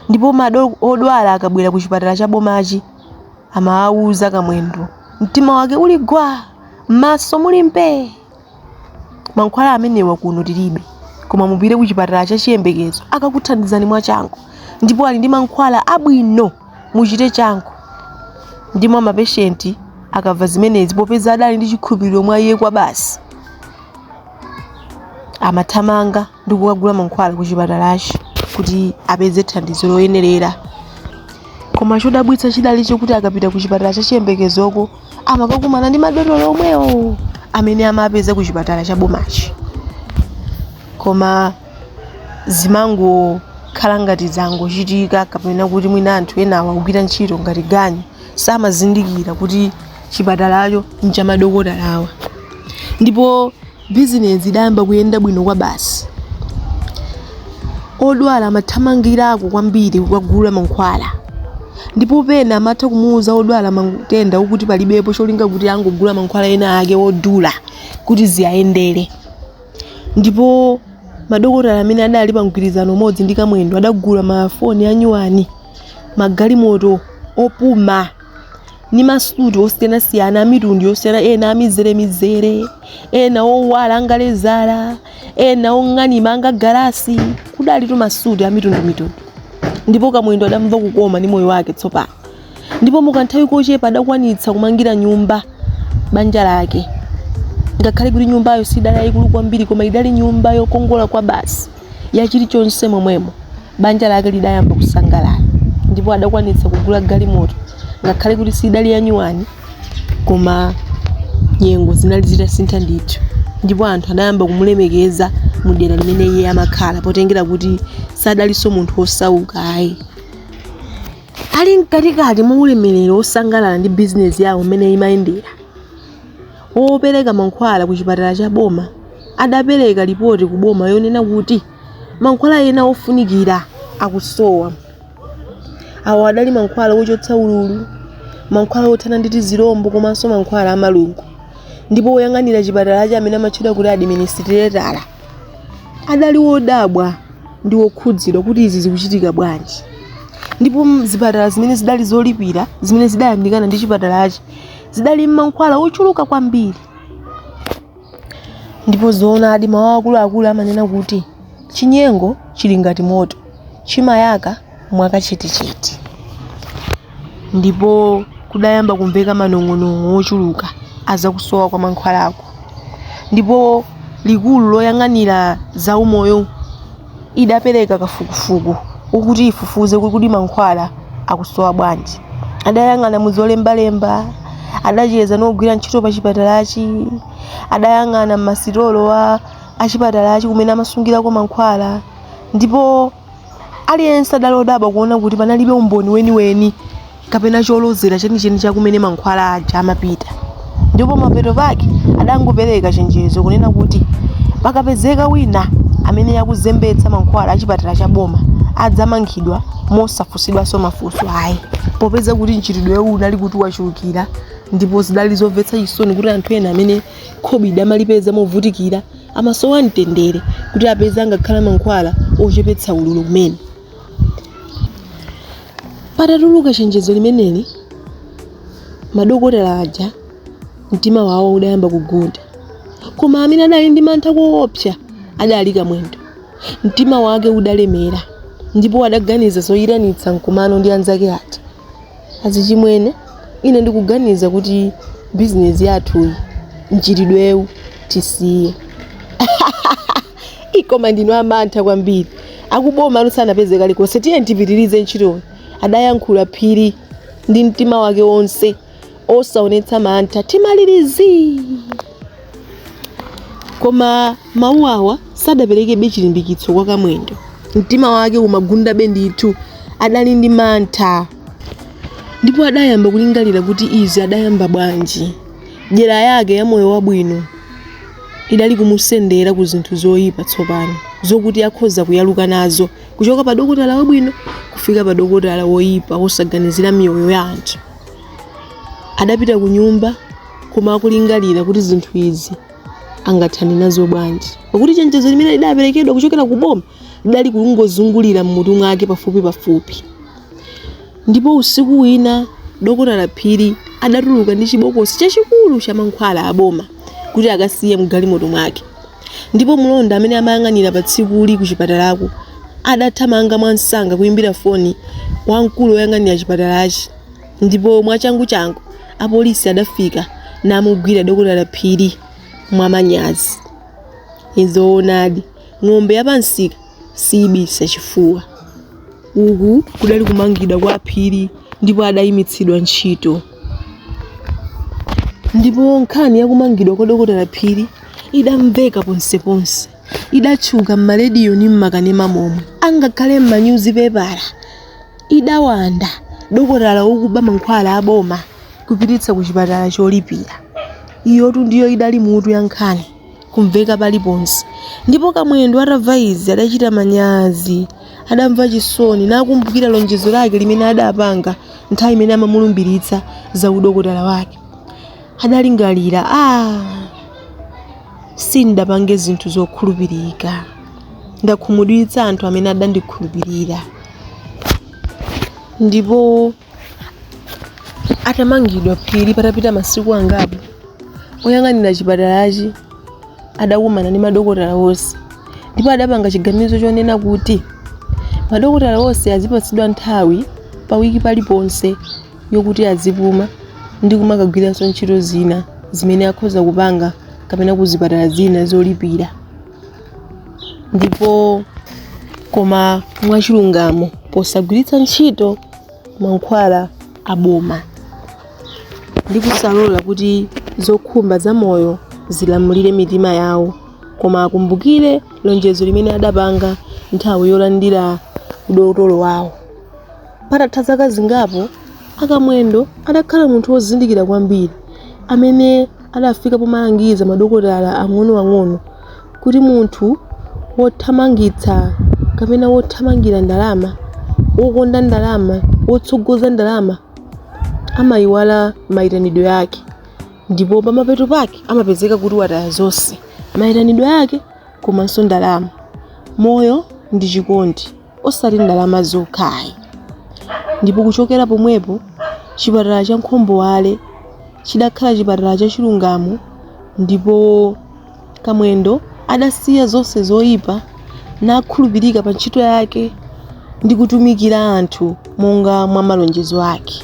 ndipo ma odwala akabwera ku chipatala cha bomachi amawawuza kamwendo mtima wake uli gwa m'maso muli mpe mankhwala amenewa kuno tilibe koma mupite ku chipatala cha chiyembekezo akakuthandizani mwachangu ndipo ali ndi mankhwala abwino muchite changu ndipo mapeshenti akamva zimenezi popeza adali ndi chikhulupiriro mwa iye kwa basi amathamanga ndi kukagula mankhwala ku chipatalachi kuti apeze thandizo loyenerera koma chodabwitsa chidali chokuti akapita ku chipatala cha chiyembekezoko amakakumana ndi madotolo omwewo amene amapeza ku chipatala cha bomachi koma zimangokhala ngati zangochitika kapena kuti mwina anthu enawa akugwira ntchito ngati ganyu samazindikira kuti chipatalacho nchamadokotalawa ndipo Bizinesi idayamba kuyenda bwino kwabasi. Odwala amathamangirako kwambiri kukagula mankhwala. Ndipo pena amatha kumuuza wodwala matenda okuti palibepo cholinga kuti angogula mankhwala ena ake odula kuti ziwayendere. Ndipo madokotala amene adali pa mgwirizano umodzi ndi Kamwendo adagula mafoni anyuwani, magalimoto opuma. ni masuti osiyanasiyana amitundu yosiyana ena amizeremizere ena owala angalezala ena ong'anima angagalasi kudalitu masuti amitundumitundu ndipo kamwendo adamva kukoma ni moyo wake tsopano ndipo mukanthawi kochepa adakwanitsa kumangira nyumba banja lake ngakhale kuti nyumbayo sidali yayikulu kwambiri koma idali nyumba yokongola kwa basi ya chilichonse momwemo banja lake lidayamba kusangalala ndipo adakwanitsa kugula galimoto ngakhale kuti sidali yanyuwani koma nyengo zinali zitasintha ndithu ndipo anthu adayamba kumulemekeza mu dera limene iye amakhala potengera kuti sadalinso munthu wosauka ayi ali mkatikati mwa ulemerero wosangalala ndi bizinesi yawo mmene imayendera wopereka mankhwala ku chipatala cha boma adapereka lipoti ku boma yonena kuti mankhwala ena ofunikira akusowa awo adali mankhwala ochotsa ululu mankhwala othana ndi tizirombo komanso mankhwala amalungo ndipo woyang'anira chipatalachi amene amatchedwa kuti administrator adali wodabwa ndi wokhudzidwa kuti izi zikuchitika bwanji ndipo zipatala zimene zidali zolipira zimene zidayandikana ndi chipatalachi zidali ni mankhwala ochuluka kwambiri ndipo zoonadi mmawa akuluakulu amanena kuti chinyengo chili ngati moto chimayaka mwakachetechete ndipo kudayamba kumveka manong'onong'o ochuluka azakusowa kwa mankhwalako ndipo likulu loyang'anira zaumoyo idapereka kafukufuku wokuti ifufuze kuti kodi mankhwala akusowa bwanji adayang'ana mu zolembalemba adacheza ndi ogwira ntchito pa chipatalachi adayang'ana mmasitolo a achipatalachi kumene amasungirako mankhwala ndipo aliyense adali odabwa kuona kuti panalibe umboni weniweni kapena cholozera chenicheni cha kumene mankhwala aja amapita ndipo mapeto pake adangopereka chenjezo kunena kuti pakapezeka wina amene akuzembetsa mankhwala achipatala cha boma adzamangidwa mosafunsidwanso mafunso ayi popeza kuti mchitidwewu unali kuti wachulukira ndipo zidali zomvetsa chisoni kuti anthu ena amene khobidi amalipeza movutikira amasowa mtendere kuti apeze angakhale mankhwala ochepetsa ululu kumene Patatuluka chenjezo limeneli, madokotala aja mtima wawo udayamba kugunda, koma amene adali ndi mantha koopsa adali Kamwendo. Mtima wake udalemera ndipo adaganiza zoyitanitsa mkumano ndi anzake ati. Azichimwene, ine ndikuganiza kuti bizinesi yathuyi mchitidwewu tisiye. Ii, koma ndinu amantha kwambiri akuboma anu sanapeze kalikonse tiye tipitirize ntchitoyo adayankhula phiri ndi mtima wake wonse osaonetsa mantha timalirizi koma mawu awa sadaperekebe chilimbikitso kwa kamwendo mtima wake umagundabe ndithu adali ndi mantha ndipo adayamba kulingalira kuti izi adayamba bwanji dyera yake ya moyo wabwino idali kumusendera ku zinthu zoyipa tsopano zokuti akhoza kuyaluka nazo kuchoka pa dokotala wabwino kufika pa dokotala woyipa wosaganizira miyoyo ya anthu adapita ku nyumba koma akulingalira kuti zinthu izi angathane nazo bwanji pakuti chenjezo limene lidaperekedwa kuchokera ku boma lidali kungozungulira mmutu mwake pafupi pafupi Ndipo usiku wina Dokotala Phiri adatuluka ndi chibokosi chachikulu cha mankhwala a boma kuti akasiye mgalimoto mwake. Ndipo mlonda amene amayang'anira pa tsikuli ku chipatalako adathamanga mwamsanga kuimbira foni wamkulu woyang'anira chipatalachi ndipo mwachanguchangu apolisi adafika namugwira Dokotala Phiri mwamanyazi. Nzoonadi, ng'ombe ya pamsika siibisa chifuwa. Uku kudali kumangidwa kwa Phiri ndipo adayimitsidwa ntchito. Ndipo nkhani ya kumangidwa kwa Dokotala Phiri idamveka ponseponse, idatchuka m'marediyo ndi m'makanema momwe, angakhale m'manyuzipepala. Idawanda dokotala wokuba mankhwala a boma kupititsa kuchipatala cholipira. Iyotu ndiyo idali mutu ya nkhani. kumveka paliponse. Ndipo Kamwendo atamva izi adachita manyazi, adamva chisoni, nakumbukira lonjezo lake limene adapanga nthawi imene amamulumbiritsa za udokotala wake. Adalingalira, ah, sindapange zinthu zokhulupirika, ndakhumudwitsa anthu amene adandikhulupirira. Ndipo atamangidwa Phiri patapita masiku angapo oyang'anira chipatalachi adakumana ndi madokotala onse ndipo adapanga chiganizo chonena kuti madokotala onse azipatsidwa nthawi pa wiki paliponse yokuti azipuma ndi kumakagwiranso ntchito zina zimene akhoza kupanga kapena ku zipatala zina zolipira ndipo koma mwachilungamo posagwiritsa ntchito mankhwala aboma ndi kusalola kuti zokhumba za moyo zilamulire mitima yawo koma akumbukire lonjezo limene adapanga nthawi yolandira udotolo wawo Patatha zaka zingapo, a Kamwendo adakhala munthu wozindikira kwambiri amene adafika pomalangiza madokotala ang'onoang'ono kuti munthu wothamangitsa kapena wothamangira ndalama, wokonda ndalama, wotsogoza ndalama amaiwala maitanidwe yake ndipo pamapeto pake amapezeka kuti wataya zonse, maitanidwe yake komanso ndalama, moyo ndi chikondi. osati ndalama zokhayi ndipo kuchokera pomwepo chipatala cha Nkhomboale chidakhala chipatala cha chilungamo ndipo Kamwendo adasiya zonse zoyipa nakhulupirika pa ntchito yake ndi kutumikira anthu monga mwa malonjezo ake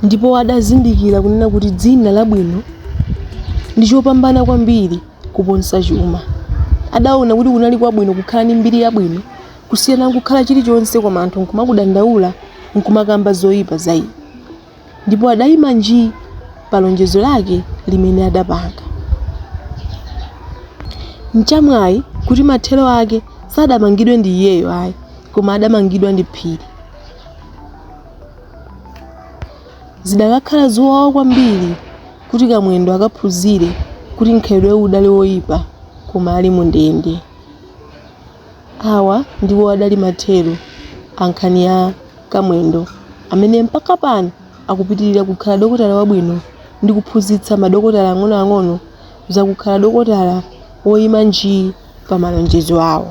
ndipo adazindikira kunena kuti dzina labwino ndi chopambana kwambiri kuponsa chuma. Adaona kuti kunali kwabwino kukhala ndi mbiri yabwino kusiyana kukhala chilichonse koma anthu nkumakudandaula nkumakamba zoipa za iwe. Ndipo adaima nji pa lonjezo lake limene adapanga. Nchamwai kuti mathero ake sadamangidwe ndi iyeyo ayi koma adamangidwa ndi Phiri. Zidakakhala zowawa kwambiri kuti Kamwendo akaphunzire kuti mkhalidwewu udali woipa koma ali mundende. Awa ndiwo adali mathero a nkhani ya Kamwendo amene mpaka pano akupitirira kukhala dokotala wabwino ndi kuphunzitsa madokotala ang'onoang'ono za kukhala dokotala woima njii pa malonjezo awo.